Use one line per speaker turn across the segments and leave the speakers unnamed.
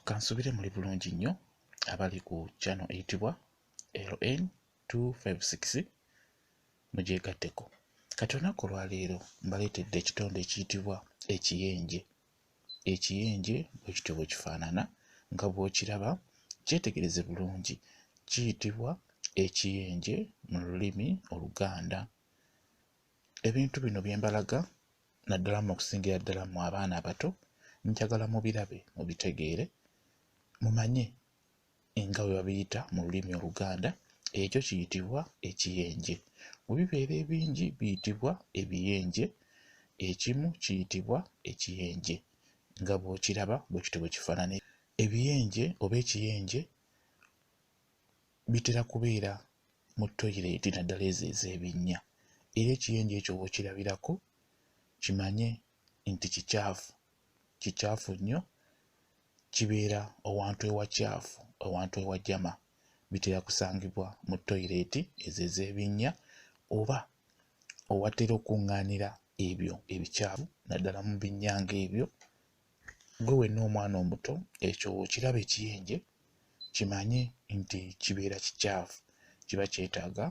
kansubire muli bulungi nnyo abali ku channel eyitibwa ln 256 mugyegatteko kati olunaku olwaleero mbaleetedde ekitonde ekiyitibwa ekiyenje ekiyenje bwekityo bwe kifaanana nga bw'okiraba kyetegereze bulungi kiyitibwa ekiyenje mu lulimi oluganda ebintu bino bye mbalaga naddala mu okusingira ddala mu abaana abato njagala mubirabe mubitegeere mumanye nga bwe babiyita mu lulimi oluganda ekyo kiyitibwa ekiyenje bwe bibeera ebingi biyitibwa ebiyenje ekimu kiyitibwa ekiyenje nga bw'okiraba bwe kityo bwe kifaanana ebiyenje oba ekiyenje bitera kubeera mu toyireeti naddala ezo ez'ebinnya era ekiyenje ekyo w'okirabirako kimanye nti kicaafu kicaafu nnyo kibeera owantu ewacaafu owantu ewajama bitera kusangibwa mu toyireeti ezo ez'ebinnya oba owatera okuŋŋaanira ebyo ebicaafu naddala mu binnya ng'ebyo gwe wenna omwana omuto ekyo okiraba ekiyenje kimanye nti kibeera kikyafu kiba kyetaaga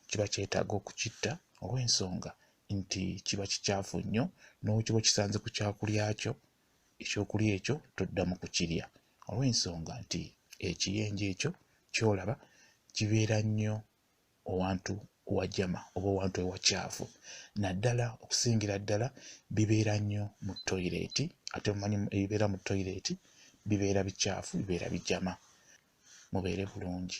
kiba kyetaaga okukitta olw'ensonga nti kiba kikyafu nnyo n'okiba okisanze ku kyakulya kyo ekyokulya ekyo toddamu kukirya olw'ensonga nti ekiyenje ekyo kyolaba kibeera nnyo owantu wajama oba owantu ewakyafu naddala okusingira ddala bibeera nnyo mu toyireeti ate mumanyi ebibeera mu toyireeti bibeera bikyafu bibeera bijama mubeere bulungi